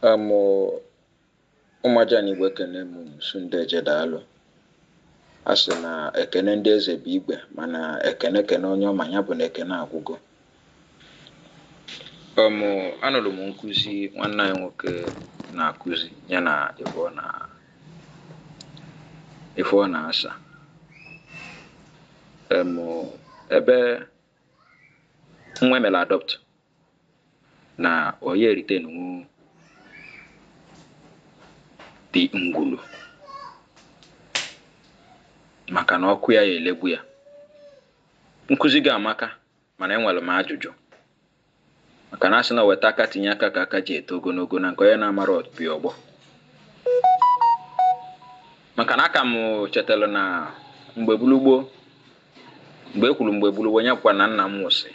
amụ ụmụ ajana Igbo ekene m Sunday Eje daalụ a sị na ekene ndị eze bụ igwe mana ekene kene onye ọma nya bụ na ekene agwụgo ọmụ anụrụ m nkụzi nwanne anyị nwoke na-akụzi ya na ife ọ na ife ọ na-asa Em, ebe nwa e melụ adopt na ọ ya-eritenwu dị ngwulu maka na ọkụ ya ya-elegbu ya nkụzi gị amaka mana enwelu m ajụjụ maka na a sị na e weta aka tinye aka ka aka ji eto ogonogo na nke onye na-amara ọtụpị ọgbọ maka na a ka m chetalụ na mgbe bụlụ gboo mgbe e kwuru mgbe bụlụ gboo onye bụkwa na nna m nwụsị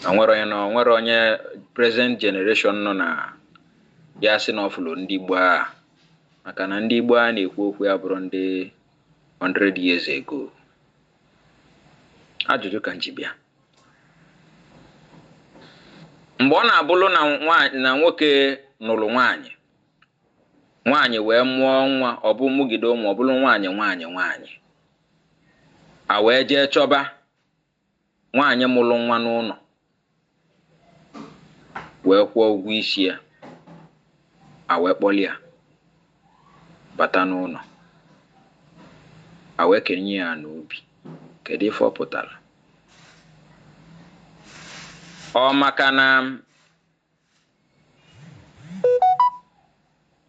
na nwere onye na nwere onye present generation nọ na ya sị na ọ fụlụ ndị gboo a maka na ndị gboo a na-ekwu okwu ya bụrụ ndị 100 years ago ajụjụ ka m ji bịa mgbe ọ na-abụlụ na nwoke nụlụ nwaanyị nwaanyị wee mụọ nwa ọ bụ mụgide ụmụ ọ bụlụ nwaanyị nwaanyị nwaanyị a wee jee chọba nwaanyị mụlụ nwa n'ụnọ wee kwụọ ụgwọ isi ya a wee kpọlụ ya bata n'ụnọ a wee kenye ya n'obi kedu ife ọ pụtara ọ maka na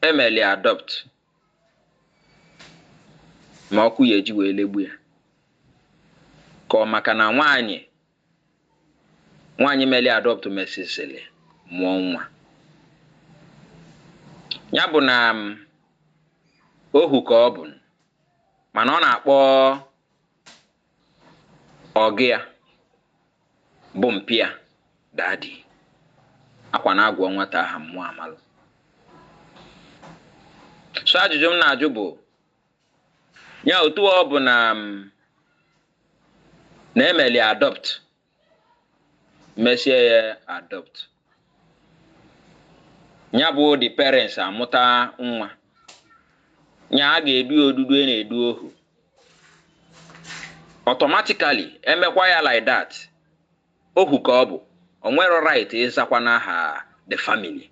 e meli adopt ma ọkụ ya-eji wee legbu ya ka ọ maka na nwaanyị nwaanyị meli adopt mesizili mụọ nwa ya bụ na um, ohu ka ọ bụ mana ọ na-akpọ ọgụ ya bụ mpịa dadi akwa na-agwa nwata aha mmụọ amalụ so ajụjụ m na-ajụ bụ nya otu ọ bụ na nwa e meli adopt mesịa ya adopt nya bụ the parents amụta nwa ya a ga-edu ya odudu a na-edu ohu automatically e mekwa ya like that Ohu ka ọ bụ, o nwerọ right ịzakwa n'aha the family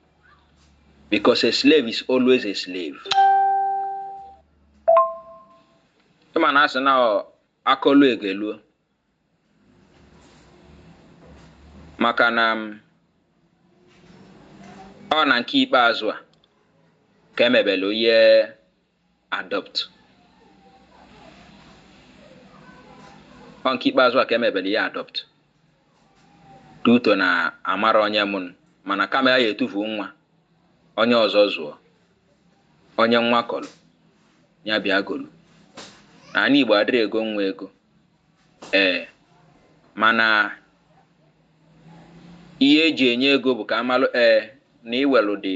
because a slave is always a slave. Ịma na a sị na a kọluo e geluo maka na um, ọ na nke ikpeazụ a ka e mebele onye adopt ọ nke ikpeazụ a ka e mebere ya adopt due to na amarọ onye mụ mana kama a ya-etufu nwa onye ọzọ zụọ onye nwa kọrọ ya bịa golu n'anị Igbo adịrọ ego nwa ego ee mana ihe e ji enye ego bụ ka a malụ ee na iwelụ dị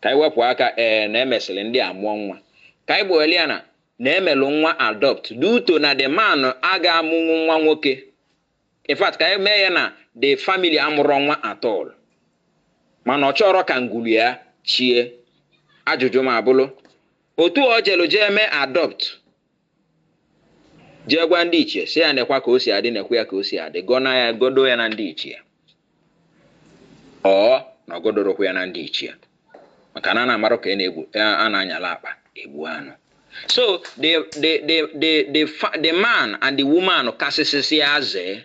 Ka anyị wepụ aka ee na e mesịlị ndị a mụọ nwa. Ka anyị gba welụ ya na na e melu nwa adopt due to na the man agaghị amụnwu nwa nwoke. In fact, ka anyị mee ya na the family amụrọ nwa at all. Mana ọ chọrọ ka ngwulu ya chie. Ajụjụ m abụlụ, otu o jelu jee mee adopt jee gwa ndị ichie sị ya nekwa ka o si adị nekwa ya ka o si adị gọna ya gọdo ya na ndị ichie ọ na ọ gọdorọkwa ya na ndị ichie maka na a na-amarụ ka a na-anyala akpa egbu anụ so the, the, the, the, the, the man and the woman kasịsịsị azee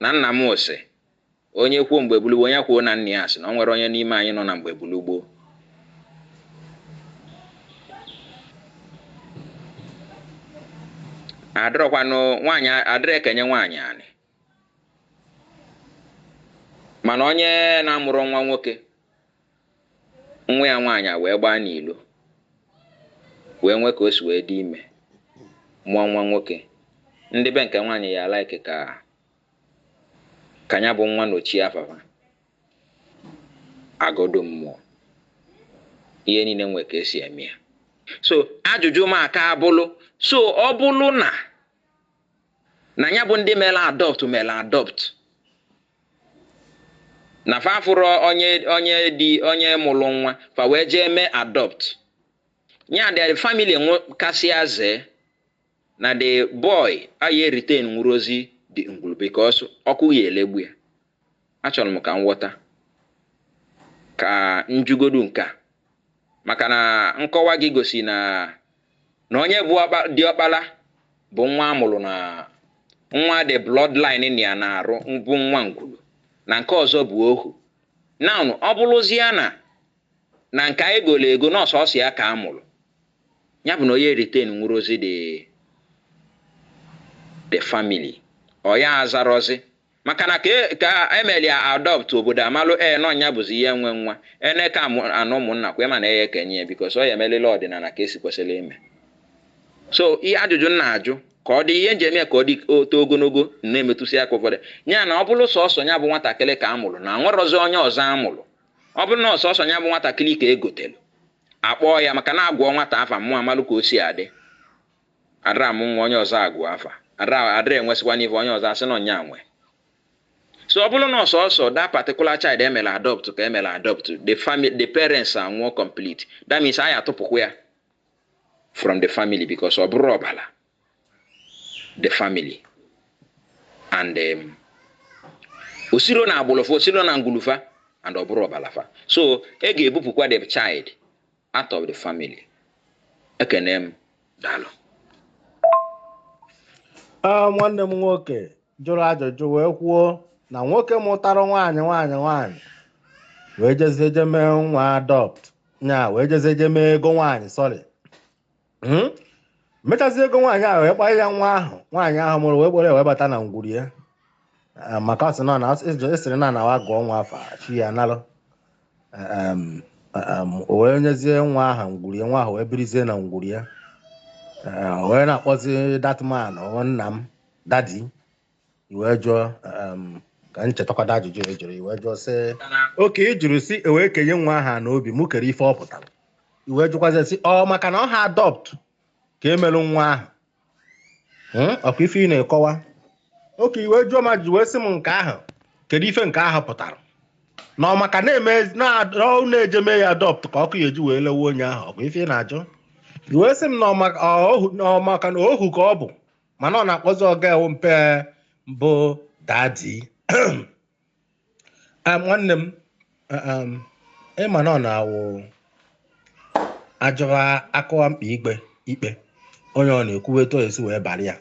Na nna m sị, Onye kwuo mgbe bulu gboo, ya kwuo na nna ya sị na o nwerọ onye n'ime anyị nọ na mgbe bulu gboo. Adịrọkwanụ nwaanyị adịrọ ekenye nwaanyị anị. Mana onye na-amụrọ nwa nwoke nwa ya nwaanyị a wee gbaa n'ilo wee nwee ka o si wee dị ime mụọ nwa nwoke ndị be nke nwaanyị ya like ka ka ya bụ nwa nochie afa fa a gọdo mmụọ ihe niine nwee ka e si eme ya so ajụjụ m aka abụlụ so ọ bụlụ na na ya bụ ndị mere adopt mere adopt na fa afụrọ onye onye dị onye mụrụ nwa fa wee jee mee adopt ya the family kasịa zee na the boy aye retain ngwuru ozi the ngwuru because ọkụ ya elegbu ya achọrọ m ka m ghọta ka m jụgodu nke a maka na nkọwa gị gosi na na onye bụ diọkpala bụ nwa a mụrụ na nwa the bloodline na ya na-arụ bụ nwa ngwulu na nke ọzọ bụ ohu now ọ bụrụzie na na nke anyị goro ego na ọ sọsọ ya ka a mụrụ ya bụ na onye retain nwụrụ ozi the family ọ ya azarozi Maka na ka ka e melụ ya adopt obodo amalụ ee na ọ nya bụzi onye nwe nwa. Ene ka amụ anụ ụmụnna kwa ị ma na e ye-ekenye ya because ọ ya emelili ọdịnala ka e si kwesịlị ime. So ihe ajụjụ m na-ajụ ka ọ dị ihe m ji eme ya ka ọ dị o too ogologo m na-emetụsị aka ụfọdụ. Ya na ọ bụlụ sọsọ nya bụ nwatakịlị ka a mụlụ na nwerọzị onye ọzọ a mụlụ. Ọ bụlụ na ọ sọsọ nya bụ nwatakịlị ka e gotelụ, akpọọ ya maka na a gụọ nwata afa mmụọ amalụ ka o si adị. Adịrọ amụ nwa onye ọzọ agụ afa, adịrọ adịrọ enwesịkwanụ ife onye ọzọ asị na ọ nya nwe. So ọ bụrụ na ọ sọsọ that particular child e mere adopt ka e mere adopt, the family the parents anwụọ complete, that means anyị atụpụkwa ya from the family because ọ bụrọ ọbara the family and um, o sirọ na agbụlụ fa o sirọ na ngwulu fa and ọ bụrọ ọbala fa so a ga-ebupụkwa the child Out of the family. Ekene m. Daalụ. Ah, nwanne m nwoke jụrụ ajụjụ wee kwuo na nwoke mụtara nwaanyị nwaanyị nwaanyị wee jezie je mee nwa adopt nya wee jezie je mee ego nwaanyị sorry hmm? mechazi ego nwaanyị ahụ wee kpọọ ya nwa ahụ nwaanyị ahụ mụrụ wee kpọlụ wee bata na ngwuru ya ah, maka ọ sị na a sịrị na na wa gụọ nwa afa chi ya analụ o wee nyezie nwa ahụ ngwuru ya nwa ahụ wee birizie na ngwuru ya ah, wee na-akpọzi that man nna m daddy i wee jụọ um, ka m chetakwado ajụjụ ị jụrụ i wee jụọ sị okay ị jụrụ sị e wee kenye nwa ahụ ana obi mụ kere ife ọ pụtara i wee jụkwazi sị ọ maka na ọ ha adopt ka e melụ nwa ahụ Hmm, ọ kwa ife ị na-akọwa okay i wee jụọ m ajụjụ wee sị m nke ahụ kedu ife nke ahụ pụtara na ọ maka na-eme na- na ọ na-eje mee ya adopt ka ọkụ ya e ji wee lewe onye ahụ ọ kwa ife ị na-ajụ i wee sị m na ọ maka- ọ ohu- na ọ maka na ohu ka ọ bụ mana ọ na-akpọzi ọga ewu mpe bụ daddy Ah, nwanne m ah, um, ị ma na ọ na-awụ ajọwa akụwa mkpa ikpe ikpe onye ọ na ekwuwe etu ọ esi wee bara ya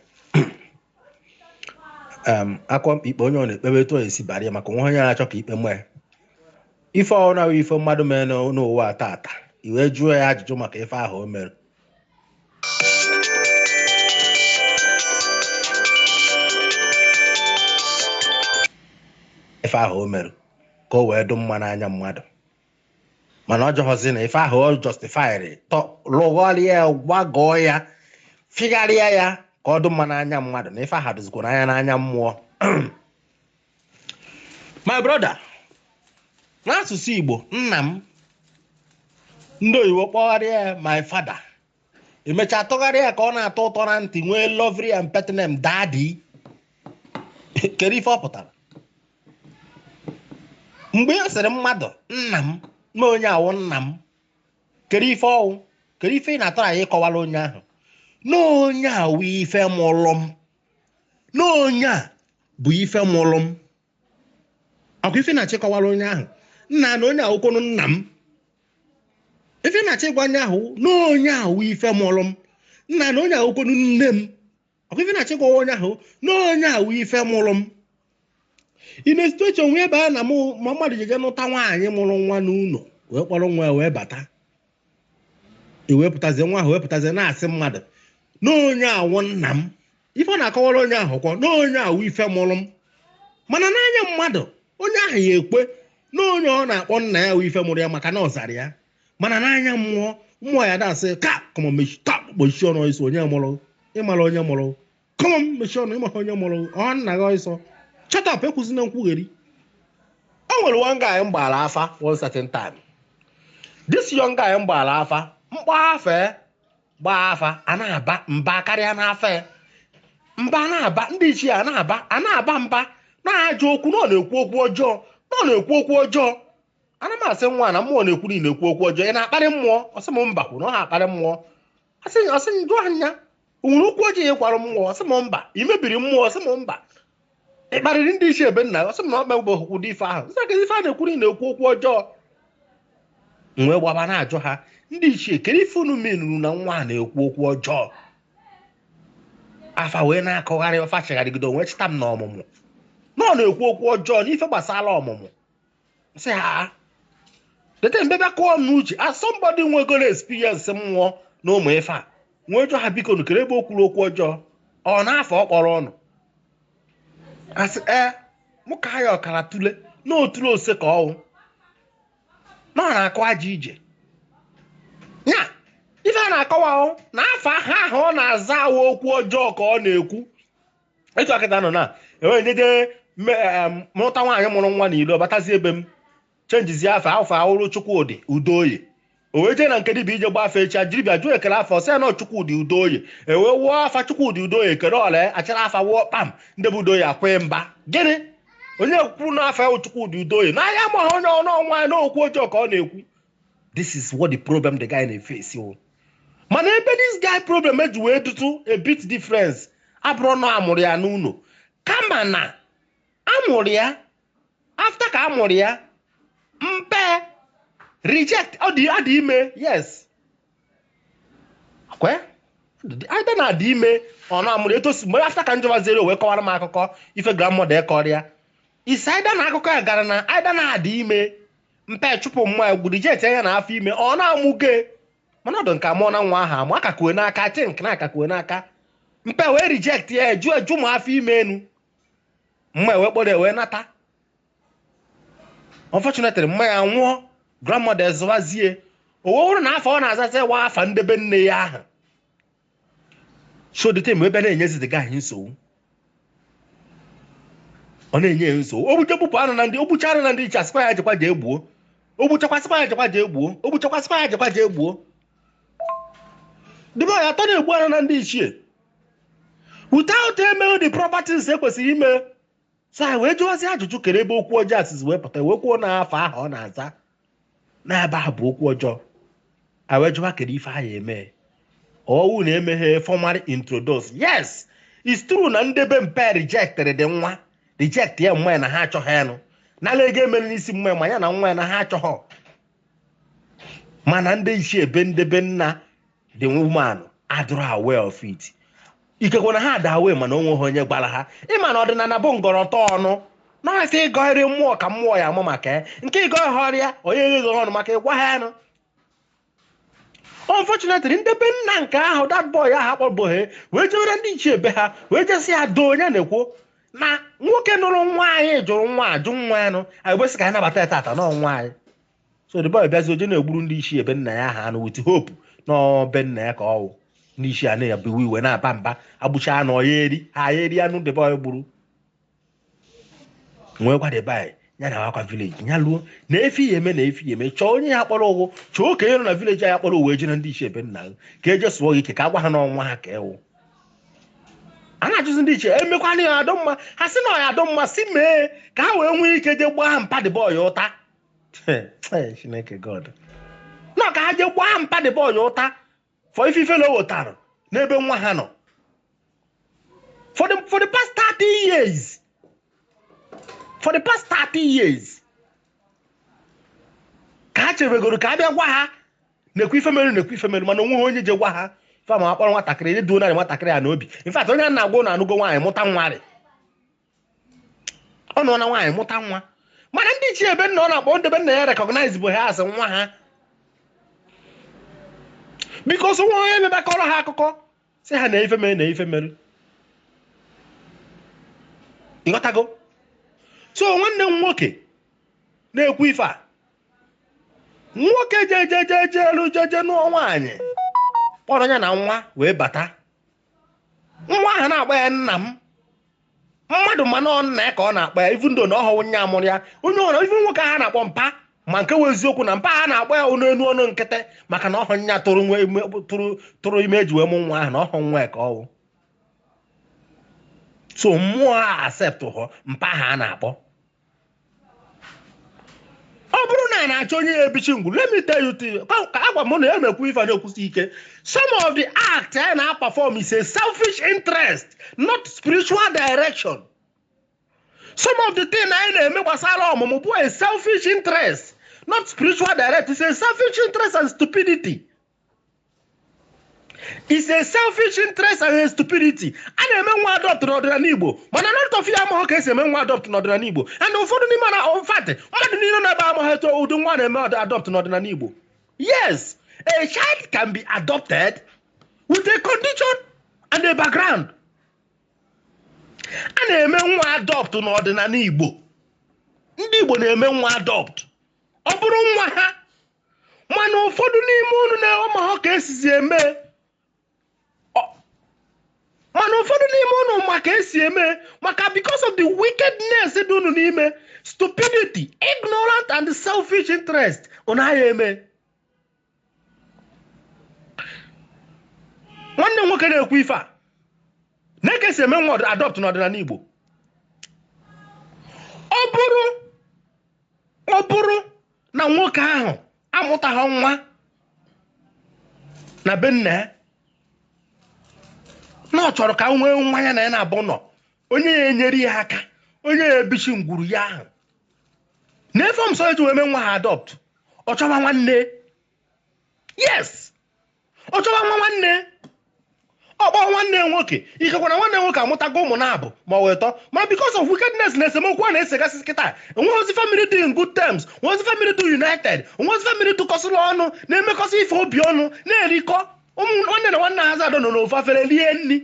um, akụwa mkpa ikpe onye ọ na ekpebe etu ọ esi bara ya maka onwe onye na-achọ ka ikpe nwee ife ọhụrụ ahụ ife mmadụ mere n'ụ- n'ụwa a taata i wee jụọ ya ajụjụ maka ife ahụ o mere ife ahụ o mere ka o wee dụ mma n'anya mmadụ mana ọ jụghọzi na ife ahụ ọ justifyịrị lụgharịa ya gbagọọ ya figharịa ya ka ọ dụ mma n'anya mmadụ na ife ahụ dụzikwa n'anya n'anya mmụọ my brother n'asụsụ igbo nna m ndị oyibo kpọgharịa ya my father e mechaa tụgharịa ya ka ọ na-atọ ụtọ na ntị nwee lovely and pet name daddy kedu ife ọ pụtara mgbe e sịrị mmadụ nna m na onye a wụ nna m kedu ife ọ wụ kedu ife ị na-atry ịkọwara onye ahụ na onye a wụ ife mụlụ m na onye a bụ ife mụrụ m ọ kwa ife ị na-achọ ịkọwara onye ahụ nna na onye a wụkwanụ nna m ife ị na-achọ ịgwa onye ahụ na onye a wụ ife mụrụ m nna na onye a wụkwanụ nne m ọ kwa ife ị na-achọ ịgwa onye ahụ na onye a wụ ife mụrụ m in a situation whereby na mmadụ jeje nụta nwaanyị mụrụ nwa n'ụlọ wee kpọrọ nwa ya wee bata e wee pụtazie nwa ahụ wee pụtazie na-asị mmadụ na onye a wụ nna m ife ọ na-akọwara onye ahụ ọ kwa na onye a wụ ife mụrụ m mana n'anya mmadụ onye ahụ ya-ekwe na onye ọ na-akpọ nna ya wụ ife mụrụ ya maka na ọ zara ya mana n'anya mmụọ mmụọ ya-asị ya come on shut up kpuchie ọnụ ị sị onye mụrụ ị mara onye mụrụ come on mechie ọnụ ị maghị onye mụrụ ọ nna gị ọsọ shut up ekwuzina nkwugheri o nwere one guy m gbara afa one certain time this young guy m gbara afa m kpọ afa gbaa afa a na-aba mba karịa n'afa ya mba na-aba ndị ichie a na-aba a na-aba mba na-ajụ okwu na ọ na-ekwu okwu ọjọọ na ọ na-ekwu okwu ọjọọ ana m asị nwa na mmụọ na-ekwu na ị na-ekwu okwu ọjọọ ị na-akparị mmụọ ọ sị m mba kwuru na ọ naha akparị mmụọ a sị ọ sị m jụọ ya o nwere okwu ọjọọ ị gwara mmụọ ọ sị m mba ị mebiri mmụọ ọ sị m mba ị kparịrị ndị ichie ebe nna ọ sị m na ọ kpagboghị ụdị ife ahụ m sị aka afa a na-ekwu na ị na-ekwu okwu ọjọọ m wee gbaba na-ajụ ha ndị ichie kedu ife unu meanuru na nwa a na-ekwu okwu ọjọọ afa wee na-akọgharị afa chịgharịgide o wee chịta m na ọmụmụ na ọ na-ekwu okwu ọjọọ n'ife gbasara ọmụmụ sị ha dede mbe bịa kụọ ọnụ uche as somebody nwegoro experience mmụọ na ụmụ ife a m wee jụọ ha biko nụ kere ebe o kwuru okwu ọjọọ ọ n'afa ọ kpọrọ unu a sị ee mụ ka ha ya ọkara tule na otule ose ka ọ wụ na ọ na-akụ aja ije ya ife a na-akọwa ahụ na afa ahụ ahụ ọ na-aza a wụ okwu ọjọọ ka ọ na-ekwu etu akịta nọ na enwere njeje nụta nwaanyị mụrụ nwa n'ilo batazie be m chenjizie afa afa ahụ bụrụ Chukwudi Udoye o wee jee na nke dibia ije gba afa echi a dibịa jụọ kere afa sị ya na Chukwudi Udoye ewee wụọ afa Chukwudi Udoye ekele ọla achara afa wụọ kpam ndị bụ Udoye akwee mba gịnị onye kwuru na afa ya Chukwudi Udoye na ahịa ma onye ọnụ ọnwa ya n'okwu ọjọọ ka ọ na-ekwu this is what the problem the guy na-efesi o mana ebe this guy problem ji wee dịtụ a bit difference abụrọ na amụrụ ya n'ụnọ kama na amụrụ ya after ka amụrụ ya mpa e reject ọ dị adị ime yes either na adị ime ọ na-amụrụ etosi mgbe after ka m jụbaziri wee kọwara m akụkọ ife grandmother ya kọrọ ya It's either na akụkọ a gara na either na a dị ime mpa achụpụ mma or reject ya na afọ ime ọ na-amụke mana ọdụ nke amụọ na nwa ahụ amụ a ka ku n'aka think na a ka ku n'aka mpa e wee reject ya ajụ ajụ ma afọ ime anụ mma wee kpọrọ ya wee nata unfortunately mma ya anwụọ grandmother azụwazie o wee wụrụ na afa ọ na-azazi wụ afa ndị be nne ya ahụ so the time ebe na-enyezi the guy nsogbu ọ na-enye ya nsogbu o gbuo jee gbupụ anụ na ndị o gbucha anụ na ndị ichie a sịkwa ya jekwa jee gbuo o gbuchakwa a sịkwa ya jekwa jee gbuo o gbuchakwa a sịkwa ya jekwa jee gbuo the boy atọ na-egbu anụ na ndị ichie without eme the proper things e kwesịrị ime so anyị wee jụwazi ajụjụ kere ebe okwu ọjọọ a sizi wee pụta wee kwuo na afa ahụ ọ na-aza n'ebe ahụ bụ okwu ọjọọ anyị wee jụwa kere ife anyị eme ọ wụ na emeghị formal introduce yes it's true na ndị be mpa rejected the nwa reject ya mma ya na ha achọghị anụ nala ego emere n'isi mma ya ma ya na nwa ya na ha achọghọ mana ndị ichie be ndị be nna the woman adịrọ aware of it ikekwe na ha adị aware mana o nweghị onye gwara ha ị ma na ọdịnala bụ ngọrọtọ ọnụ na-asị ị gọrọ mmụọ ka mmụọ ya ama maka ya nke ịgọ ha ọrịa onye gheghị ọnụ maka ịgwa ha anụ unfortunately ndị be nna nke ahụ that boy ahụ akpọbụghị wee jewere ndị ichie be ha wee jee sị ya though onye na-ekwu na nwoke nụrụ nwaanyị jụrụ nwa ajụ nwa anụ anyị wee sị ka anyị nabata ya tata na nwa anyị so the boy bịazie jee na-egburu ndị ichie be nna ya ha anụ with hope na ọ be nna ya ka ọ wụ ndị ichie a na-ewe iwe na-aba mba egbucha anụ ọ ya eri ha ya eri anụ the boy gburu nwekwa the boy ya na akwa vileji ya luo na ife ya eme na ife ya eme chọọ onye ya kpọrọ ụgwụ chọọ okenye nọ na vileji a ya kpọrọ ụwa eje na ndị ichie be nna ha ka eje sụọ gị ike ka agwa ha na ọ nwa ha ka ọ wụ a na-ajụzi ndị ichie emekwana ya adị mma ha sị na ọ ya adị mma si mee ka ha wee nwee ike jee gbaa mpa the boy ụta Chineke God na ka ha jee gbaa mpa the boy ụta for ife ife na o wetara n'ebe nwa ha nọ for the, for the past 30 years for the past 30 years ka ha chebegoro ka a bịa gwa ha na-ekwu ife mere na-ekwu ife mere mana o nweha onye je gwa ha ife ma a kpọrọ nwatakịrị eduo narị nwatakịrị ya n'obi in fact onye a na-agwa ụnụ anụgo nwaanyị mụta nwa rị ọ nọ na nwaanyị mụta nwa mana ndị ichie be nna ọ na-akpọ ndị be nna ya recognize bụ ha as nwa ha because nwa onye mebakọrọ ha akụkọ sị ha na ife mere na ife mere ị ghọtago so nwanne m nwoke na-ekwu ife a nwoke jejejeje elu jeje nụọ nwaanyị kpọrọ ya na nwa wee bata nwa ahụ na-akpọ ya nna m mmadụ ma na ọ nna ya ka ọ na-akpọ ya even though na ọhụụ nya mụrụ ya onye or even nwoke ha na-akpọ mpa ma nke wụ eziokwu na mpa ha na-akpọ ya ọnụ enu ọnụ nkịtị maka na ọhụ nya tụrụ nwa ime- tụrụ- tụrụ ime e ji wee mụ nwa ahụ na ọhụ nwa ya ka ọ wụ so mmụọ a accept hụ mpa ha a na-akpọ ọ bụrụ na a na-achọ onye ya-ebichi ngwu let me tell you thing ka ka agwa m na ya na-ekwu ife a na-ekwusi ike some of the act anyị na-aperform is a selfish interest not spiritual direction some of the thing anyị na-eme gbasara ọmụmụ bụ a selfish interest not spiritual direct is a selfish interest and stupidity is a selfish interest and stupidity a na-eme nwa adopt n'ọdịnala igbo mana lot of ha amaghị ka e si eme nwa adopt n'ọdịnala igbo and ụfọdụ n'ime in fact mmadụ niile n'ebe amaghị etu ụdị nwa a na-eme adopt n'ọdịnala igbo yes a child can be adopted with a condition and a background a na-eme nwa adopt n'ọdịnala igbo ndị igbo na-eme nwa adopt ọ bụrụ nwa ha mana ụfọdụ n'ime unu na-enwe ma ha ka e sizi eme Ọ- mana ụfọdụ n'ime unu ma ka e si eme maka because of the wickedness dị unu n'ime stupidity ignorant and selfish interest unu agaha eme nwanne m nwoke na-ekwu ife a na ka e si eme nwa adopt n'ọdịnala igbo ọ bụrụ ọ bụrụ na nwoke ahụ amụtaghị nwa na be nna ya na ọ chọrọ ka o nwee nwa ya na ya na-ebu ụnọ onye ya-enyere ya aka onye ya-ebichi ngwuru ya ahụ na ife ọmsọ e ji wee mee nwa ha adopt ọ chọba nwanne yes ọ chọwa nwa nwanne ọ kpọọ nwanne ya nwoke ikekwa na nwanne ya nwoke amụtago ụmụ naabọ ma ọ wụ ịtọ ma because of wickedness na esemokwu a na-esegasị kịta enweghịzi family dị in good terms enweghịzi family dị united enweghịzi family dịkọsịrị ọnụ na-emekọsị ife obi ọnụ na-erikọ ọnụ nwanne na nwanne ha zadọ nọ n'ofu afere rie nri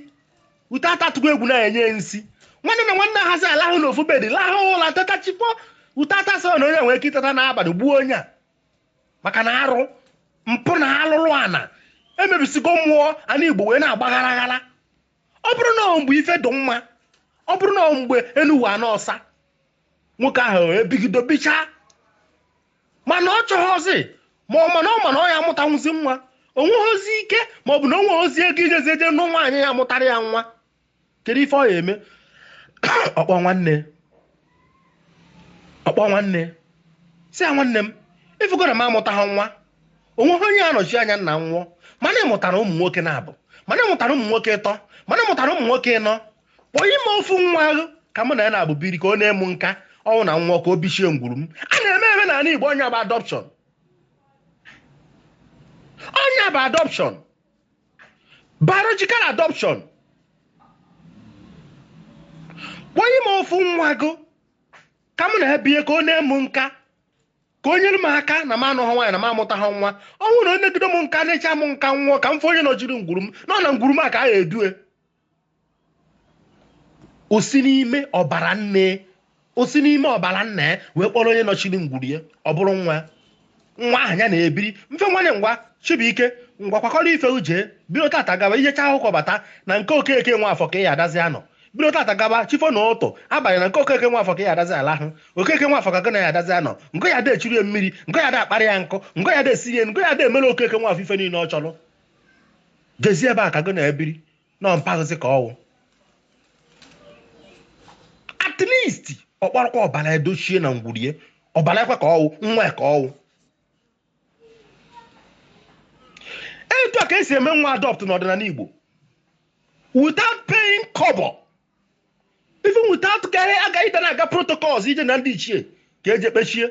ute atatụgo egwu na e nye ya nsi nwanne na nwanne ha za alahụ n'ofu bed lahụ ụla teta chikpọ ute atasị na onye nwere ike iteta n'abalị gbuo onye a maka na arụ mpụ na alụlụ ana emebisigo mmụọ ana igbo wee na-agbaghara aghara ọ bụrụ na mgbe ife dị mma ọ bụrụ na mgbe enu wụ ana ọsa nwoke ahụ ebigido bichaa mana ọ chọghịzi ma ọ mana ọ mana ọ ya amụtanwụzi nwa onweghịzi ike ma ọ bụ na onweghịzi ego ijezi eje nụọ nwaanyị ya-amụtara ya nwa kedu ife ọ ya eme ọ kpọọ nwanne ọ kpọọ nwanne sị ya nwanne m ị fụgo na m amụtaghị nwa onweghị onye ya-anọchi anya ma m nwụọ mana ị mụtara ụmụ nwoke naabọ mana ị mụtara ụmụ nwoke ịtọ mana ị mụtara ụmụ nwoke ịnọ kpọnye m ofu nwa ahụ ka mụ na ya naabọ biri ka o nee m nka ọ wụ na m nwụọ ka o bichie ngwuru m a na-eme eme n'ala Igbo ọ nya bụ adoption ọ nya bụ adoption biological adoption kpọnye m ofu nwa gụ ka m na ya bie ka o nee m nka ka o nyere m aka na m anụghị nwaanyị na m amụtaghị nwa ọ bụrụ na o negide m nka nechaa m nka m nwụọ ka m fụ onye nọchiri ngwuru m nọ na ngwuru m a ka a ga-edue o si n'ime ọbara nne o si n'ime ọbara nna ya wee kpọrọ onye nọchiri ngwuru ya ọ bụrụ nwa ya. nwa ahụ ya na-ebiri mfe nwanne ngwa chibuike ngwa kwakọrọ ife gị jee bido tata gawa ị jechaa akwụkwọ bata na nke okeke nwafọ ka ị ya adazi anọ bido tata gawa chi fo n'ụtụtụ abalị na nke okeke nwafọ ka ị ya adazi alahụ okeke nwafọ ka gị na ya adazi anọ nke ya da echuru ya mmiri nke ya da akparị ya nkụ nke ya da esiri ya nke ya da emere okeke nwafọ ife niile ọ chọrọ jezie be ya ka gị na ya biri nọ mpaghịzi ka ọ wụ at least ọ kpọrọkwa ọbara ya dochie na ngwuru ya ọbara yakwa ka ọ wụ nwa ya ka ọ wụ etu a ka e si eme nwa adopt n'ọdịnala Igbo without paying kobo even without ka a ga ịda na-aga protocols ije na ndị ichie ka e je kpechie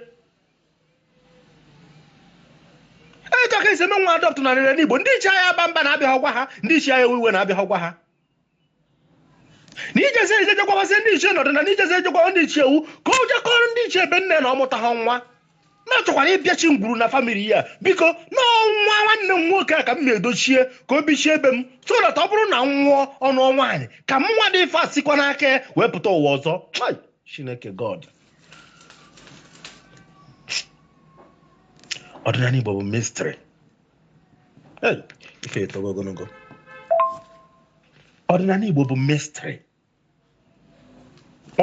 etu a ka e si eme nwa adopt n'ọdịnala igbo ndị ichie aya aba mba na a bịaghị gwa ha ndị ichie aya ewe iwe na a bịaghị gwa ha na ijezi ejejekwabazi ndị ichie nọdụ ana na ijezi ejekwawa ndị ichie ewu ka o je kọọrọ ndị ichie ebe nne na ọ mụtaghị nwa na-achọkwara ibichi ngwuru na famili ya biko na ọ nwa nwanne m nwoke a ka m na-edochie ka o bichie ebe m so that ọ bụrụ na m nwụọ ọ nụọ nwaanyị ka m nwa dị ife asikwa n'aka ya wee pụta ụwa ọzọ Chai, chineke god ọdịnala igbo bụ mistri ife etogo ogologo ọdịnala igbo bụ mistri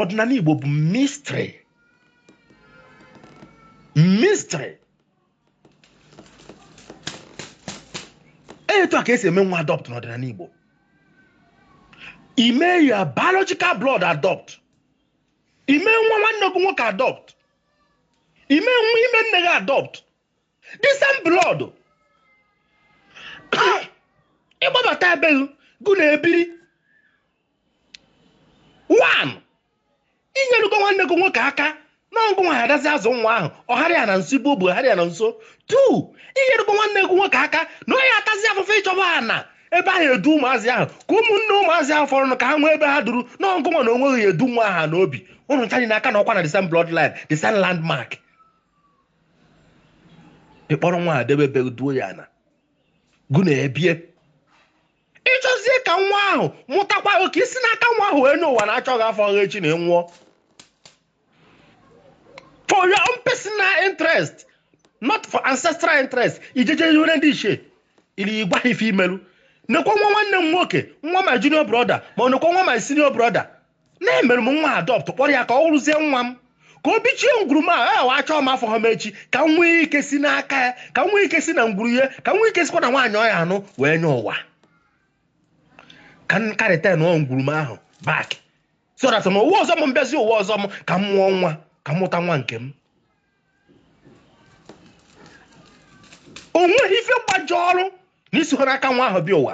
ọdịnala Igbo bụ mistri mistri etu a ka e si eme nwa adopt n'ọdịnala Igbo ime ya biological blood adopt ime nwa nwanne gị nwoke adopt ime nwa ime nne gị adopt the same blood ị kpọbata ebe gụ na ya ebiri one i nyerugo nwanne gị nwoke aka na ọ gụnwa ya dazi azụ nwa ahụ ọgharị ya na nso igbo bụ ọgharị ya na nso two i nyerugo nwanne gị nwoke aka na onye atazi afụfụ ịchọba ana ebe ahụ edu ụmụazị ahụ ka ụmụnne ụmụazị ahụ fọrọ ka ha nwee ebe ha duru na ọ gụnwa na onweghị edu nwa ahụ n'obi ụnụ ncha dị n'aka na ọkwa na the same bloodline the same landmark ị kpọrọ nwa adebebe duo ya na gụ na ebie ị chọzie ka nwa ahụ mụtakwa gị ka i si n'aka nwa ahụ wee nyọ ụwa na achọọ gị afụgha echi na ị nwụọ for your own personal interest not for ancestral interest i je-eje ihere ndị ichie ili ị gwa ha ife i melu nekwa nwa nwanne m nwoke nwa my junior brother ma ọ nekwa nwa my senior brother na emere m nwa adopt kpọrọ ya ka ọ wụrụzie nwa m ka o bichie ngwuru m ahụ ahụ achọọ m afụha m echi ka m nwee ike si n'aka ya ka m nwee ike si na ngwuru ya ka m nwee ike sikwa na nwaanyị ọ ya-anụ wee nyọ ụwa ka m karịta na ọ ngwuru m ahụ back so that na ụwa ọzọ m m bịazi ụwa ọzọ m ka m mụọ nwa ka m mụta nwa nke m o nweghị ife gbajọrọ na isi n'aka nwa ahụ bịa ụwa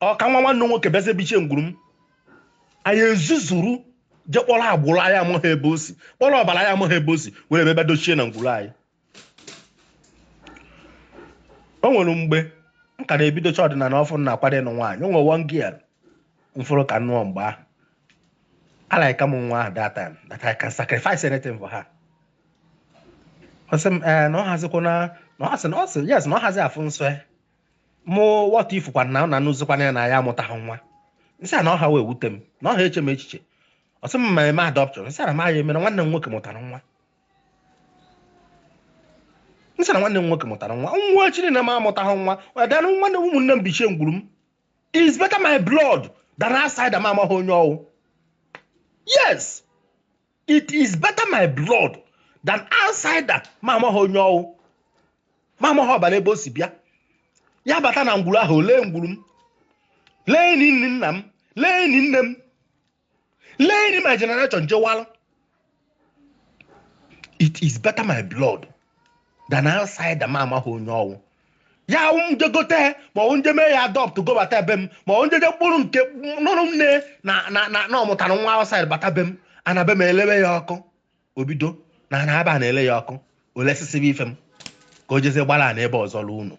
ọ ka nwa nwanne nwoke bịazie bichie ngwuru m anyị ezuzuru je kpọrọ agbụrụ anyị amaghị ebe o si kpọrọ ọbara anyị amaghị ebe o si were bịa bịa dochie na ngwuru anyị o nwere mgbe m ka na-ebidocha ọdịnala ọfụụ na-akwado ịnụ nwaanyị o nwere one girl m fụrụ ka m nụọ mgbe ahụ a-like m nwa ahụ that time that I can sacrifice anything for her ọ sị m ee na ọ hazikwa na na ọ sị na ọ sị yes na ọ hazi afụ nsọ ya mụ wọta ị fụkwa na na anụzikwana ya na ya amụtaghị nwa m sị ya na ọ ha ewute m na ọ ha eche m echiche ọ sị m ma eme adoption m sị na m ya-emere nwanne m nwoke mụtara nwa m sị na nwanne m nwoke mụtara nwa n'ọwụ echi na m amụtaghị nwa ọdanụ nwanne m ụmụnne m bichie ngwuru m is better my blood than outsider m amaghị onye ọ wụ yes it is better my blood than outsider m amaghị onye ọ wụ m amaghị ọbara ebe o si bịa ya bata na ngwuru ahụ lee ngwuru m lee ini nne nna m lee ini nne m lee ini my generation jewala it is better my blood than outsider m amaghị onye ọ wụ ya wụ m je gote ma ọ m je mee ya adopt gobata be m ma ọ m jeje m kpọrọ nke nụrụ nne na na na na ọ mụtara nwa outside bata be m ana be m elewe ya ọkụ o bido na ana aba na-ele ya ọkụ o lesisibe ife m ka o jezie gbara ana ebe ọzọ lụọ ụnọ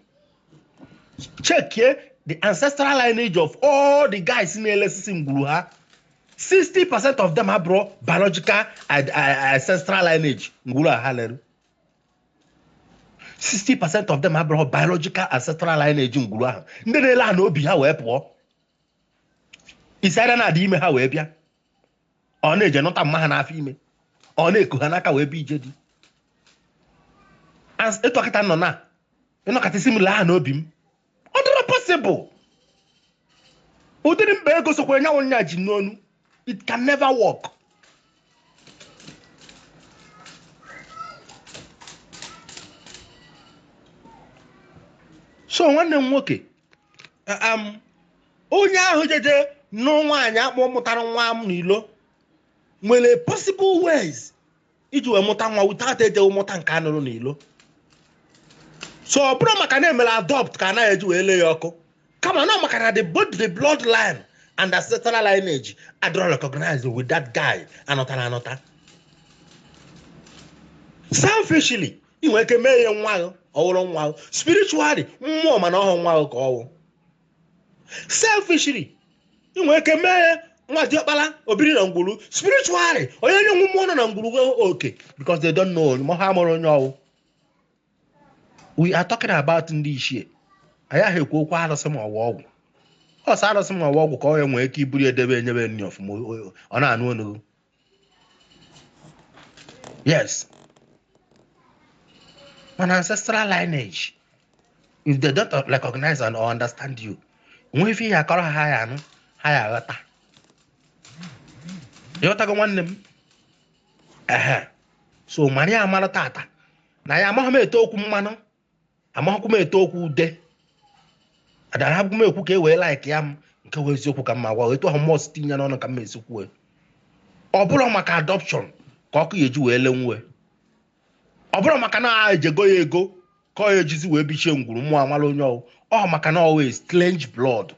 chekie the ancestral lineage of all the guys na-elesisi ngwuru ha 60 percent of them abụrọ biological ancestral lineage ngwuru a ha lere 60 percent of them abụrọ biological ancestral lineage ngwuru ahụ ndị na-ele ana obi ha wee pụọ it's either na a dị ime ha wee bịa or na e je nụta mma ha n'afọ ime or na e ku ha n'aka wee bịa ije di i tokata n'ụnọ a ị nọkata ị sị m lee ana obi m ọ dịrọ possible ụdịrị mba ego sokwara nyanwụ nya ji n'onu it can never work so nwanne m nwoke um, onye ahụ jeje nụ nwaanyị akpọ mụtara nwa m n'ilo nwere possible ways iji wee mụta nwa without ejeghị mụta nke a nụrụ n'ilo so ọ bụrọ maka na e mere adopt ka ana ya eji wee lee ya ọkụ kama na maka na the both the blood line and ancestral lineage adịrọ recognized with that guy a nụtara anụta selfishly ị nwere ike mee ya nwa ahụ ọ wụrụ nwa ahụ spiritually mmụọ ma na ọ họọ nwa ahụ ka ọ wụ selfishly ị nwere ike mee ya nwa diọkpala obiri na ngwuru spiritually onye onye wụ mmụọ nọ na ngwuru nwee oke because they don't know na ha amarọ onye ọ wụ we are talking about ndị ichie anyị ahọ ekwu okwu arụsị ma ọ wụ ọgwụ ọ sọ arụsị ma ọ wụ ọgwụ ka ọ ya nwee ike iburu edebe enyebe nri ọfụma o- o- ọ na-anụ onu yes an ancestral lineage if they don't recognize and or understand you nwe ife ị ya akọrọ ha ya anụ ha ya aghọta ị ghọtago nwanne m ehe so mara ya mara tata na ya amaghị m ete okwu mmanụ amaghịkwa m ete okwu ude adarọ m ekwu ka e wee laikịa m nke wụ eziokwu ka m na-agwa etu ahụ mmụọ si tinye n'ọnụ ka m esi kwuo ọ bụrọ maka adoption ka ọkụ ya eji wee lenwue ọ bụrọ maka na e je goo ya ego ka ọ ya ejizi wee bichie ngwuru mmụọ amarọ onye ọ wụ ọ maka na ọ wụ a strange blood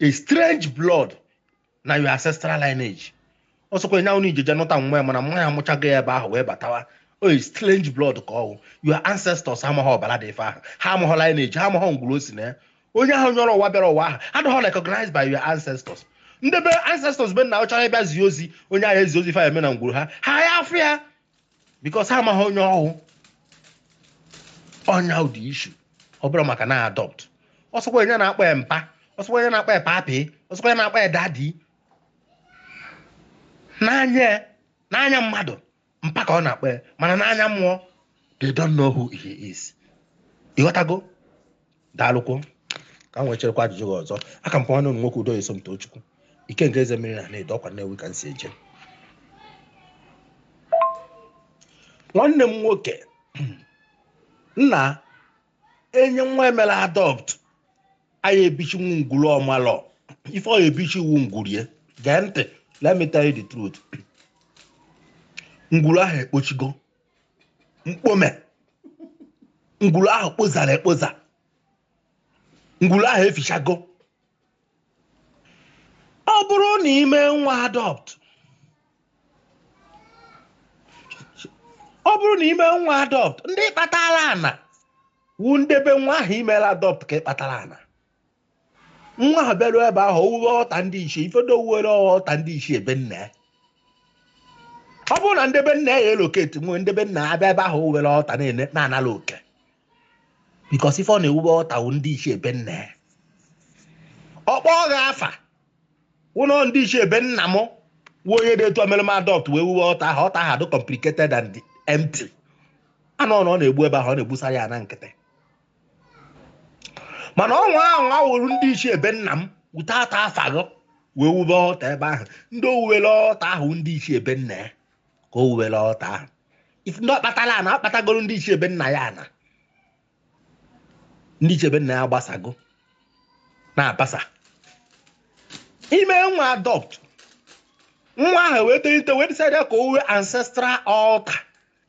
a strange blood na your ancestral lineage ọsọkwa nya unu ijeje nụta nne ya mana nne ya amụchago ya ebe ahụ wee batawa ọ wụ strange blood ka ọ wụ your ancestors amaghị ọbara dị ife ahụ ha amaghị lineage ha amaghị ngwuru o si na ya onye ahụ nyọrọ ụwa bịara ụwa ahụ adịghị recognized by your ancestors ndị be ancestors be nna ọ chọrọ ịbịa zie ozi onye ahụ ezi ozi fa eme na ngwuru ha ha ya afụ ya because ha amaghị onye ọ wụ ọ nya wụ the issue ọ bụrụ maka na adopt ọsọkwa nya na-akpọ ya mpa ọsọkwa nya na-akpọ ya papi ọsọkwa nya na-akpọ ya daddy n'anya n'anya mmadụ mpa ka ọ na-akpọ ya mana n'anya mmụọ they don't know who he is ị ghọtago daalụkwo ka m nwecherekwa ajụjụ gị ọzọ aka m nwanne unu nwoke udo eso m tochukwu ike nke eze mmiri na na-edo ọkwa nnewi ka m si eje nwanne m nwoke nna enye nwa e melụ adopt anyị ebichi nwa ngwuru ọ malọ ife ọ ebichi wụ ngwuru e gee ntị let me tell you the truth ngwuru ahụ ekpochigo mkpome ngwuru ahụ kpozara ekpoza ngwuru ahụ efichago ọ bụrụ na i mee nwa adopt ọ bụrụ na i mee nwa adopt ndị i kpatara ana wụ ndị be nwa ahụ i melụ adopt ka ị kpatara ana nwa ahụ bịarụ ebe ahụ o wuwe altar ndị ichie ifedo o wuwere altar ndị ichie be nna ya ọ bụrụ na ndị be nna ya elocate nya ndị be nna ya bịa ebe ahụ o wuwere altar na-ene na-anara oke because ife ọ na-ewube altar wụ ndị ichie be nna ya ọ kpọgha afa wụnọ ndị ichie be nna m wụ onye dị etu o melụ m adopt wee wuwe altar ahụ altar ahụ adị complicated and empty anụ na ọ na-egbu ebe ahụ ọ na-egbusara ya na nkịtị mana ọ nwa ahụ awụrụ ndị ichie be nna m wute ata afaghọ wee wube altar ebe ahụ ndị o wuwere altar ahụ ndị ichie be nna ya ka o wuwere altar ahụ ifu ndị ọ kpatara ana akpatagoro ndị ichie be nna ya ana ndị ichie be nna ya gbasago na-abasa i mee nwa adopt nwa ahụ wee tolite wee decide ka o wuo ancestral altar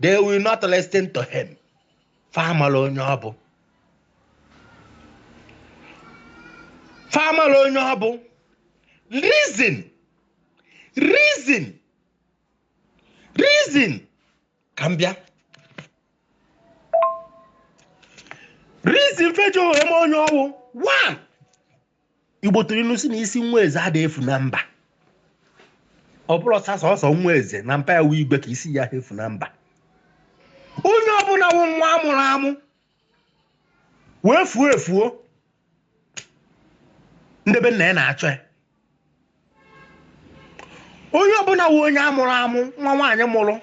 they will not listen to him fa amalọ onye ọ bụ fa amalọ onye ọ bụ reason reason reason ka m bịa reason fa ejihọ ma onye ọ wụ one igbo tụrụ ilu sị na isi nwa eze ada efu na mba ọ bụrụ ọsasọ ọsọ nwa eze na mpa ya wee igwe ka isi ya efu na mba onye ọbụla wụ nwa a mụrụ amụ wee fuo efuo ndị be nna ya na-achọ ya onye ọbụla wụ onye a mụrụ amụ nwa nwaanyị mụrụ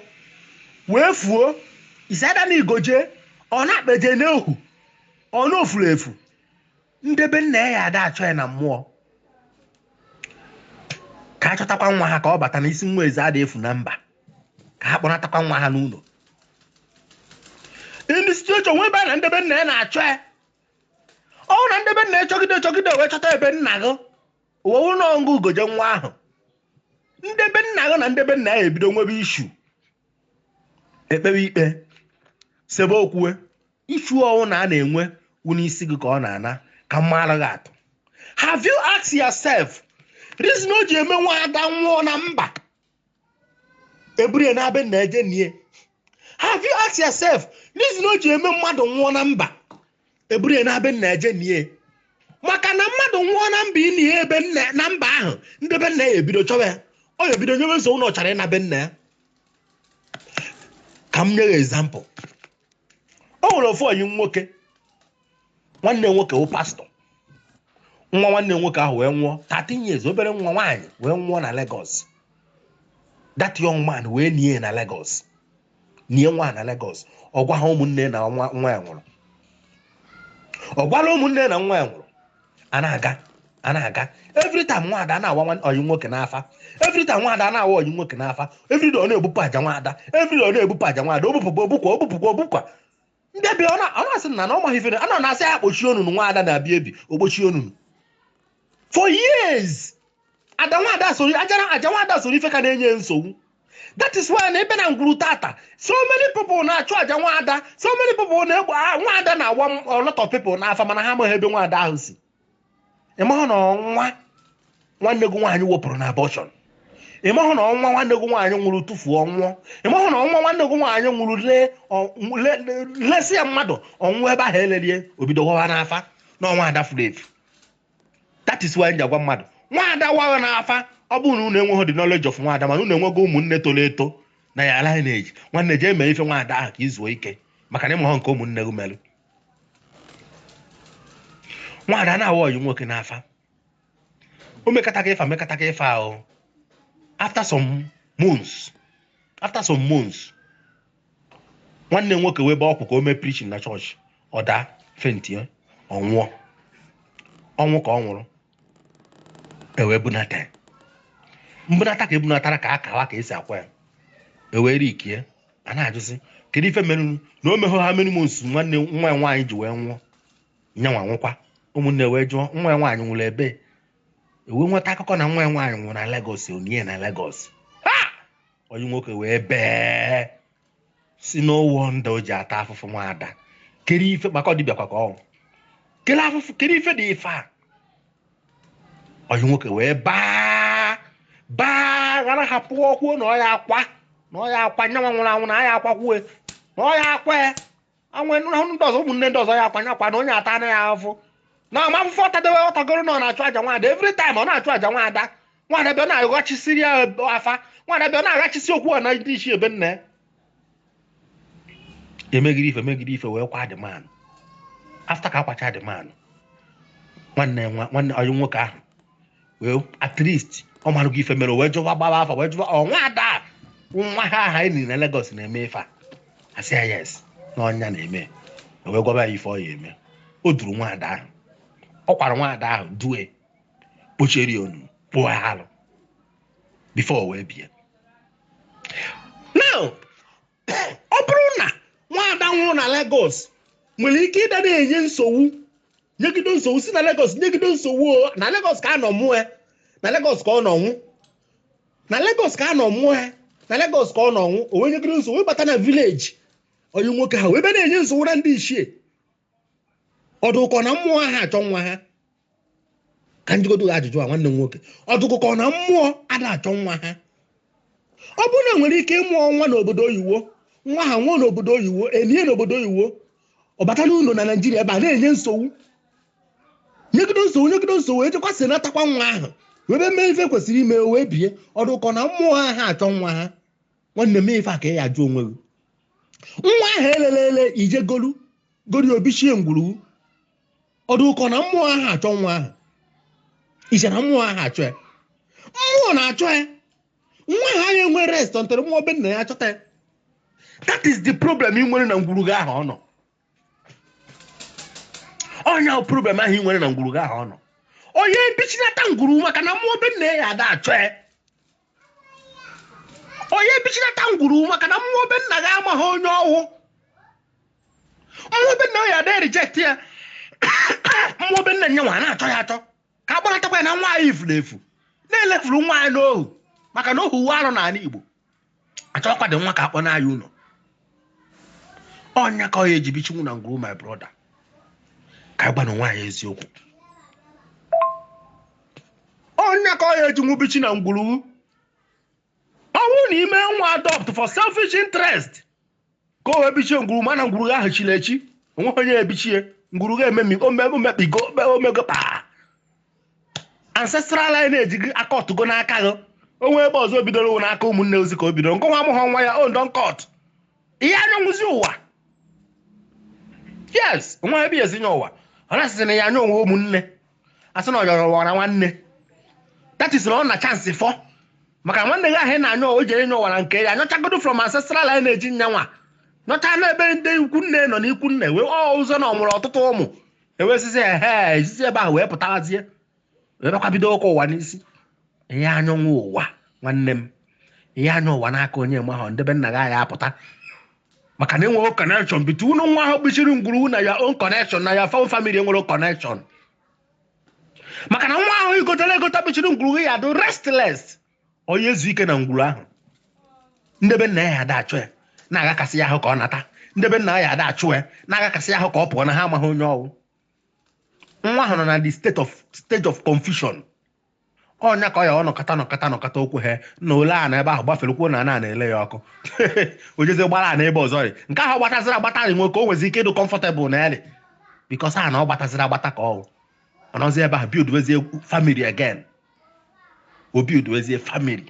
wee fuo isada na igoje ọ na-akpeje n'ihu ọ na o furu efu ndị be nna ya ya ada achọ ya na mmụọ ka a chọtakwa nwa ha ka ọ bata na isi nwa eze ada efu na mba ka ha kpọnatakwa nwa ha n'ụnọ ndị situation nwee ebe a na ndị be nna ya na-achọ ya ọ na ndị be nna ya chọgide chọgide wee chọta be nna gị o wee wụrụ na ọngụ ugoje nwa ahụ ndị be nna gị na ndị be nna ya ebido nwebe issue e kpewe ikpe sebe okwu Issue ọwụna a na-enwe wụ n'isi gị ka ọ na-ana ka m maara gị atụ. Have you asked yourself reason o ji eme nwaada nwụọ na mba e buru ya nabịa na eje nie? Have you asked yourself reason o ji eme mmadụ nwụọ na mba e buru ya nabịa na eje nie? maka na mmadụ nwụọ na mba i nie ya ebe nna na mba ahụ ndị be nna ya ebido chọwa ya ọ ya ebido nyewe nsogbu na ọ chọrọ ịna be nna ya ka m nye gị example o nwere ofu ọyị nwoke nwanne nwoke wụ pastọ nwa nwanne nwoke ahụ wee nwụọ 13 years obere nwa nwaanyị wee nwụọ na Lagos that young man wee nie na Lagos nie nwa na Lagos ọ gwaha ụmụnne na nwa ya nwụrụ ọ gwaha ụmụnne na nwa ya nwụrụ a na-aga a na-aga every time nwaada a na-awa nwa- ọyị nwoke n'afa every time nwaada a na-awa ọyị nwoke n'afa every day ọ na-ebupụ aja nwaada every day ọ na-ebupụ aja nwaada o bupụkwa o bukwa o bupụkwa o bukwa ndị bi ọ na- ọ na-asị na na ọ maghị ife na- a na na-asị ya kpochie ọnụnụ nwaada na-abịa ebi o kpochie ọnụnụ for years aja nwaada soro ajara aja nwaada soro ife ka na-enye nsogbu that is why na ebe na ngwuru tata so many people na-achụ aja nwaada so many people na-egbu ah, nwaada na-awa a lot of people n'afa mana ha amaghị ebe nwaada ahụ si ị mahụ na ọ nwa nwanne gị nwaanyị wepụrụ na abortion ị mahụ na ọ nwa nwanne gị nwaanyị mụrụ tụfuo ọ nwụọ ị mahụ na ọ nwa nwanne gị nwaanyị mụrụ lee ọ- le- le- lesịa mmadụ ọ nwụọ ebe ahụ e lelụ ya o bido wawa n'afa na ọ nwaada furu efu that is why m ji agwa mmadụ nwaada wa gị na afa ọ bụrụ na unu enweghị the knowledge of nwaada mana unu enwego ụmụnne toro eto na ya ala na-eji nwanne jee mee ife nwaada ahụ ka i zuo ike maka na ị mahọ nke ụmụnne gị merụ nwaada na-awa ọyị nwoke n'afa o mekata ka ife a mekata ka ife ahụ after some months after some months nwanne m nwoke wee bee ọkwụ ka o mee preaching na church ọ daa fentie ọ nwụọ ọnwụ ka ọ nwụrụ e wee bunata ya mbunata ka e bunatara ka a kwawa ka e si akwa ya e wee rikie a na-ajụzi kedu ife merenụ na o mehụ how many months nwanne nwa ya nwaanyị ji wee nwụọ nya nwa nwụkwa ụmụnne wee jụọ nwa ya nwaanyị nwụrụ ebe e wee nweta akụkọ na nwa ya nwaanyị nwụrụ na Lagos e nie na Lagos onye nwoke wee bịa sị na ọ wụ ndị o ji ata afụfụ nwaada kere ife maka ọ dibịa kwa ka ọnwụ kere afụfụ kere ife dị ife a onye nwoke wee baa baa ghara hapụ o kwuo na ọ ya-akwa na ọ ya-akwa nya nwa nwụrụ anwụ na a ya-akwakwue na ọ ya-akwa ya nwa nwụrụ anwụ ndị ọzọ ụmụnne ndị ọzọ ya akwanye akwa na onye ata na ya afụ na ama afụfụ ọ tadewe ọ tagoro na ọ na-achụ aja nwaada every time ọ na-achụ aja nwaada nwaada bịa na-aghachisiri ya afa nwaada bịa na-aghachisi okwu a na ndị ichie be nna ya emegide ife megide ife wee kwaa the man ahụ after ka a kwacha the man ahụ nwanne nwa nwanne ọyị nwoke ahụ wee at least ọ mara gị ife mere o wee jụwa gbawa afa wee jụwa ọ nwa ada a, nwa ha aha e nii na Lagos na-eme ife a a sị ya yes na ọ nya na-eme o wee gwaba ya ife ọ ya-eme o duru nwa ada ahụ ọ kwara nwa ada ahụ due kpochieri ya ọnụ kpụọ ya alụ before o wee bie now ọ bụrụ na nwaada nwụrụ na Lagos nwere ike ịdị na-enye nsogbu nyegide nsogbu si na Lagos nyegide nsogbu ọ na Lagos ka a nọ mụọ ya na Lagos ka ọ nọ nwụ na Lagos ka a nọ mụọ ya na Lagos ka ọ nọ nwụ o wee nyegide nsogbu wee bata na village ọyị nwoke ha wee bịa na-enye nsogbu na ndị ichie ọ dụkọ na mmụọ aha achọ nwa ha ka njikọta ajụjụ a nwanne m nwoke ọ dụkọ na mmụọ ada achọ nwa ha ọ bụrụ na nwere ike ịmụọ nwa n'obodo oyiwo nwa ha nwụọ n'obodo oyiwo e lie n'obodo oyiwo ọ bata n'ụlọ na Nigeria ebe a na-enye nsogbu nyegido nsogbu nyegido nsogbu e jekwa sị natakwa nwa ahụ wee bịa mee ife kwesịrị ime wee bie ọ dụkọ na mmụọ aha achọ nwa ha nwanne m ife a ka ị ya-ajụ onwe gị nwa ahụ e lele ele i je golu golu o bichie ngwuru gị ọ dụkọ na mmụọ aha achọ nwa ahụ i chee na mmụọ aha achọ ya mmụọ na-achọ ya nwa ahụ aya enwe rest until mmụọ be nna ya achọta ya that is the problem ị nwere na ngwuru gị ahụ ọ nọ ọ nya wụ problem ahụ ị nwere na ngwuru gị ahụ ọ nọ onye ebichinata ngwuru maka na mmụọ be nna ya ada achọ ya onye ebichinata ngwuru maka na mmụọ be nna gị amaghị onye ọ wụ mmụọ be nna ya ada reject ya mmụọ be nna nya nwa na-achọ ya achọ ka akpọnatakwa ya na nwa anyị efuru efu na elefuru nwa anyị n'ohu maka na ohu wụ arụ n'ala Igbo achọkwa dị nwa ka akpọna ya ụlọ ọ ya ka ọ ya eji bichinwu na ngwuru my brother ka anyị gwanụ onwe anyị eziokwu ọ ya ka ọ ya eji nwubichi na ngwuru ọ bụrụ na i me nwa adopt for selfish interest ka o wee bichie ngwuru mana ngwuru ahụ chiri echi onweghị onye ebichie ngwuru ga-ememi omekpigo omego kpaa ancestral lineage gị acutgo n'aka gị onwe ebe ọzọ bidoro wụ n'aka ụmụnne ozi ka o bidoro nke nwa amụghọ nwa ya adụ uncut ị ya ayọnwuzi ụwa yes nwee ebe ị ya esi yọ ụwa ọ na-asịsị na ị ya ayọ ụwa ụmụnne asị na ọ yọrọ ụwa na nwanne that is na ọ na chance fọ maka nwanne gị ahụ ị na-ayọ o jere yọ ụwa nke ya yọchagodo from ancestral lineage ya nwa yọcha n'ebe ndị ikwu nne nọ n'ikwu nne wee ọ ụzọ na ọ mụrụ ọtụtụ ụmụ ewesizi ehe ezizi ebe ahụ wee pụtazie wee bịakwa bido ụka ụwa n'isi ị ya ayọnwu ụwa nwanne m ị ya ayọ ụwa n'aka onye mgbe ahụ nde be nna gị ahụ apụta maka na enweghị connection between nwa ahụ bichiri ngwuru na ya own connection na ya fam family enwerọ connection maka na nwa ahụ i gotela egota bichiri ngwuru ya adụ restless ọ ya ezu ike na ngwuru ahụ nde be nna ya ada achụ ya na-agakasị ya ahụ ka ọ nata nde be nna ya ada achụ ya na-agakasị ya ahụ ka ọ pụọ na ha amaghị onye ọ wụ nwa ahụ nọ na the state of stage of confusion ọ ya ka ọ ya anọkata nọkata nọkata okwu ha na ole a na ebe ahụ gbafere kwuo na ana na-ele ya ọkụ o jezie gbalaa n'ebe ọzọ rị nke ahụ ọ gbataziri agbata rị nwoke o nwezi ike ịdụ comfortable na eri because ana ọ gbataziri agbata ka ọ wụ ọ nọzi ebe ahụ buildwezie family again ọ buildwezie family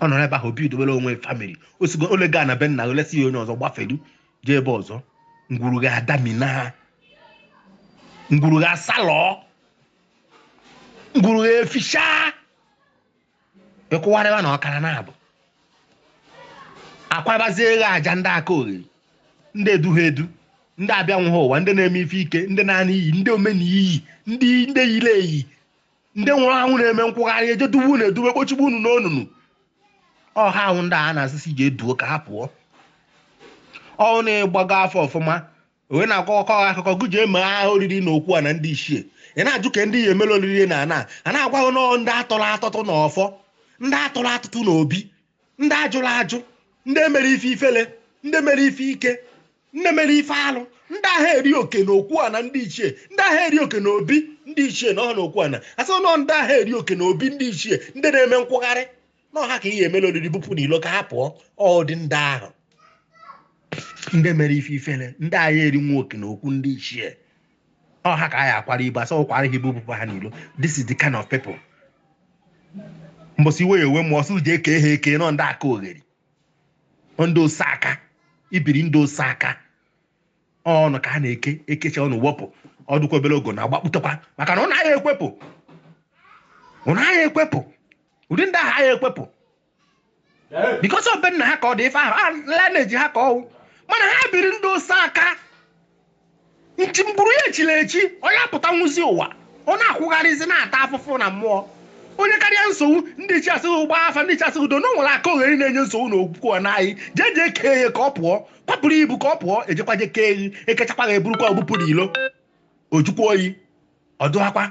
ọ nọrọ ebe ahụ bido buildwe family osigo ole gaa na be nna olesi ya onye ọzọ gbafelu jee ebe ọzọ ngwuru gị adamina ngwuru gị asalọọ ngwuru gị efisha ị kụwarịa na ọkara naabọ akwabazie ghe aja ndị akaogheri ndị eduha edu ndị abịanwuha ụwa ndị na-eme ife ike ndị na-ana iyi ndị omena iyi ndị ndị yiri eyi ndị nwụrụ anwụ na-eme nkwụgharị eje duwe unu eduwe kpochigbu unu n'onunu ọ ha wụ ndị a na-asịsị jee duo ka ha pụọ ọ wụ na ị gbago afa ọfụma ọ wụ nwa ọkụkọ ọkụkọ ka eji eme ha oriri na okwu ana ndị ichie ị na-ajụ ka ndị ị ya emere oriri na ana a na-agwa gị na ọ ndị atọrọ atụtụ na ọfọ ndị atụrụ atụtụ na obi ndị ajụrụ ajụ ndị emere ife ifele ndị mere ife ike ndị mere ife alụ ndị ahụ eri oke na okwu ana ndị ichie ndị ahụ eri oke na obi ndị ichie na ọha na okwu ana asị na ọ ndị ahụ eri oke na obi ndị ichie ndị na-eme nkwụgharị na ọ ha ka ị ya emela oriri bupụ n'ilo ka ha pụọ ọdị ndị ahụ ndị mere ife ifele ndị ahụ erinwu oke na okwu ndị ichie ọ ha ka anyị akwara ibu a sị a kwara ha ibu bukwa ha n'ilo this is the kind of people mbọsị iwe ya ewe mmụọ sị jee kee ha eke n'ọ ndị aka ogheri n'ọ ndị ose aka i biri ndụ ose aka ọ unu ka a na-eke e kecha unu wepụ ọ dụkwa obere oge unu agbapụtakwa maka na unu anaghị ekwepụ unu anaghị ekwepụ ụdị ndị ahụ anaghị ekwepụ because ọ be nna ha ka ọ dị ife ahụ ọ lineage ha ka ọ wụ mana ha biri ndụ ose aka ngwuru ya echila echi onye apụta nwụzi ụwa ọ na-akwụgharịzi na-ata afụfụ na mmụọ o nyekarịa nsogbu ndị ichie asị gị ị gbaa afa ndị ichie asị gị udo na o nwere aka ogheri na-enye nsogbu na okwukwe ọ naghị jee jee kee ya ka ọ pụọ kwapụrụ ibu ka ọ pụọ e jekwa jee kee gị e kechakwa gị e burukwa bupụ n'ilo o jukwa oyi ọ dụwakwa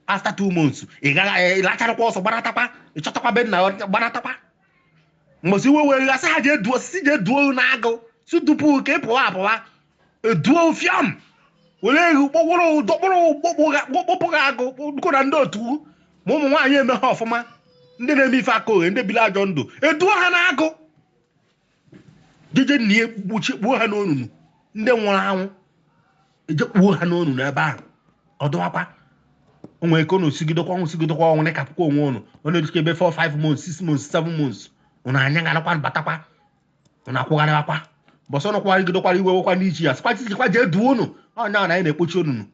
after two months ị gaghị eh, ị lacharakwa ọsọ gbanatakwa ị chọtakwa be nna gbanatakwa mbọsị iwe were gasị ha ji edu osisi jee duo n'agụ sị dupụ ka ị pụwa apụwa eduo fiam were egwu kpọkpụrụ dọkpụrụ kpọkpụ gị agụ kpụkọ na ndị otu ma ụmụ nwaanyị emeha ọfụma ndị na-eme ife aka oghe ndị biri ajọ ndụ eduo ha n'agụ jeje na ya gbuchi kpuo ha n'onunu ndị nwụrụ anwụ e jee kpuo ha n'onunu ebe ahụ ọ dụwakwa o nwere ike unu sigidekwa ọnwụ sigidekwa ọnwụ na-ekepụkwa onwe unu ọ na-erite ebe 4 5 months 6 months 7 months unu anyagharịkwa batakwa unu akwụgharịwakwa mbọsị unu kwụgharịgidekwara iwe wekwa ndị ichie a sịkwa jejekwa jee duo unu ọ nya na anyị na-ekpochi onunu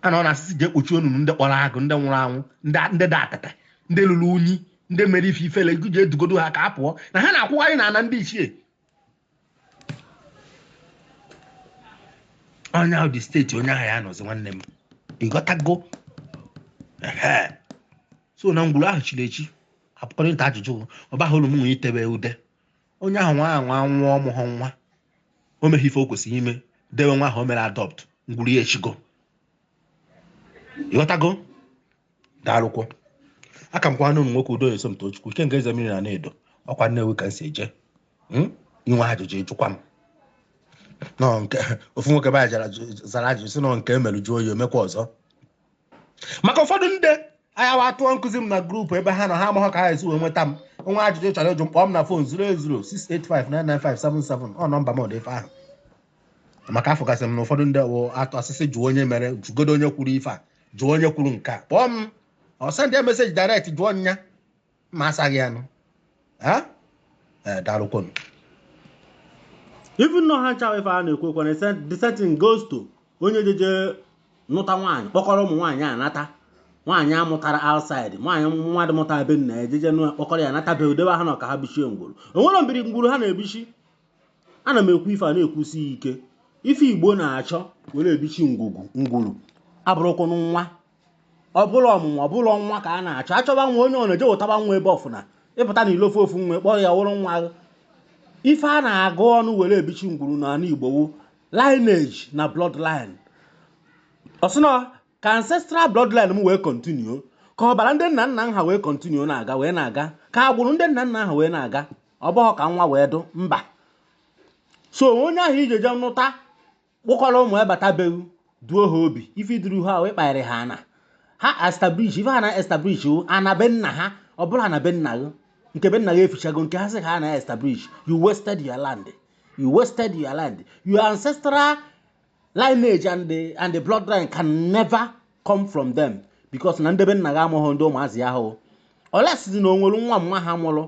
a na ọ na-asị sị jee kpochi onunu ndị kpọrọ agụ ndị nwụrụ anwụ ndị dị atata ndị luru unyi ndị mere ife ifele jee dugodo ha ka a pụọ na ha na-akwụgharị na ana ndị ichie onye ahụ dị state onye ahụ ya nọzi nwanne m ị ghọtago so na ngwuru ahụ chiri echi apụkọrịta ajụjụ ọba hụrụ m nwe itebe ude onye ahụ nwa ahụ nwa nwụọ ọ mụghọ nwa o meghị ife o kwesịrị ime dewe nwa ahụ o mere adopt ngwuru ya echigo ị ghọtago daalụkwọ aka m kwana ụmụ nwoke udo eso m tochukwu ikenga eze mmiri na edo ọkwa nnewi ka m si eje hmm? i nwee ajụjụ ị jụkwa m n'ọ nke ofu nwoke be anyị jara- zara ajụjụ sị n'ọ nke e merụ jụọ ya o mekwa ọzọ maka ụfọdụ ndị anya wa tụọ nkụzi m na group ebe ha nọ ha amaghọ ka ha esi wee nweta m o nwee ajụjụ chọrọ ịjụ m kpọọ m na phone 08068599577 ọ nọmba m ọ dụ ife ahụ maka afụgasị m na ụfọdụ ndị wụ atụ asịsị jụọ onye mere jụgodo onye kwuru ife a jụọ onye kwuru nke a kpọọ m ọ send ya message direct jụọ nya ma asaghị ya nụ Eh, daalụkwonu even nọ ha nchawa ife a na-ekwu okwu na the same thing goes to onye jeje nụta nwaanyị kpọkọrọ ụmụ nwaanyị a nata nwaanyị a mụtara outside nwaanyị nwa dị mụta be nna e jeje nụ kpọkọrọ ya nata be e debe ha na ọ ka ha bichie ngwuru o nwere mbiri ngwuru ha na-ebichi ana m ekwu ife a na-ekwusi ike ife igbo na-achọ were ebichi ngwugwu ngwuru abụrọkwọnụ nwa ọ bụrọ ọmụmụ ọ bụrọ nwa ka a na-achọ a chọba nwa onye ọ na-eje ụtaba nwa ebe ọfụna ị pụta na ilo fụ ofu nwa kpọrọ ya wụrụ nwa gị ife a na-agụ ọnụ were ebichi ngwuru n'ala igbo wu lineage na bloodline ọ sị na ka ancestral bloodline m wee kọntinuo ka ọbara ndị nna nna ha wee kọntinuo na-aga wee na-aga ka agbụrụ ndị nna nna ha wee na-aga ọ bụghị ka nwa wee dụ mba so onye ahụ i jeje nụta kpọkọrọ ụmụ ya bata be gị duo ha obi ife i duru ha ahụ ịkpagharị ha ana ha establish ife ha na establish ọ ana be nna ha ọ bụrọ ana be nna gị nke be nna gị efuchago nke ha zi ka ha na establish you wasted your land you wasted your land your ancestral lineage and the, and the bloodline can never come from them because na ndị be nna gị amụghị ndị ụmụazị ya ahụ unless zi na o nwere nwa mma ha mụrụ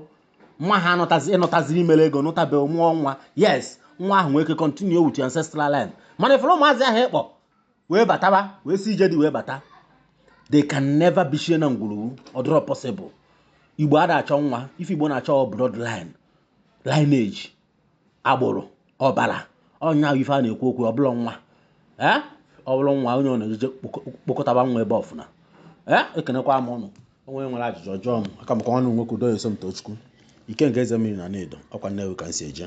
nwa ha ị nụtaziri i mere ego nụta be mụọ nwa yes nwa ahụ nwee ike continue with your ancestral line mana ị fụrụ ụmụazị ahụ ị kpọ wee bataba wee si ije di wee bata they can never bichie na ngwuru gụ ọ dịrọ possible igbo ada achọ nwa ife igbo na-achọ blood line lineage agbụrụ ọbara ọ ya ife a na-ekwu okwu ọ bụrọ nwa ee ọ bụrụ nwa onye ọ na-ejeje kpokọtaba nwa ebe ọfụna ee ekenekwa m ụnụ onye nwere ajụjụ ọ jụọ m aka m ka wụnụ nwoke udo ya somtochukwu ikenga eze mmiri na nne edo ọkwa nnewi ka m si eje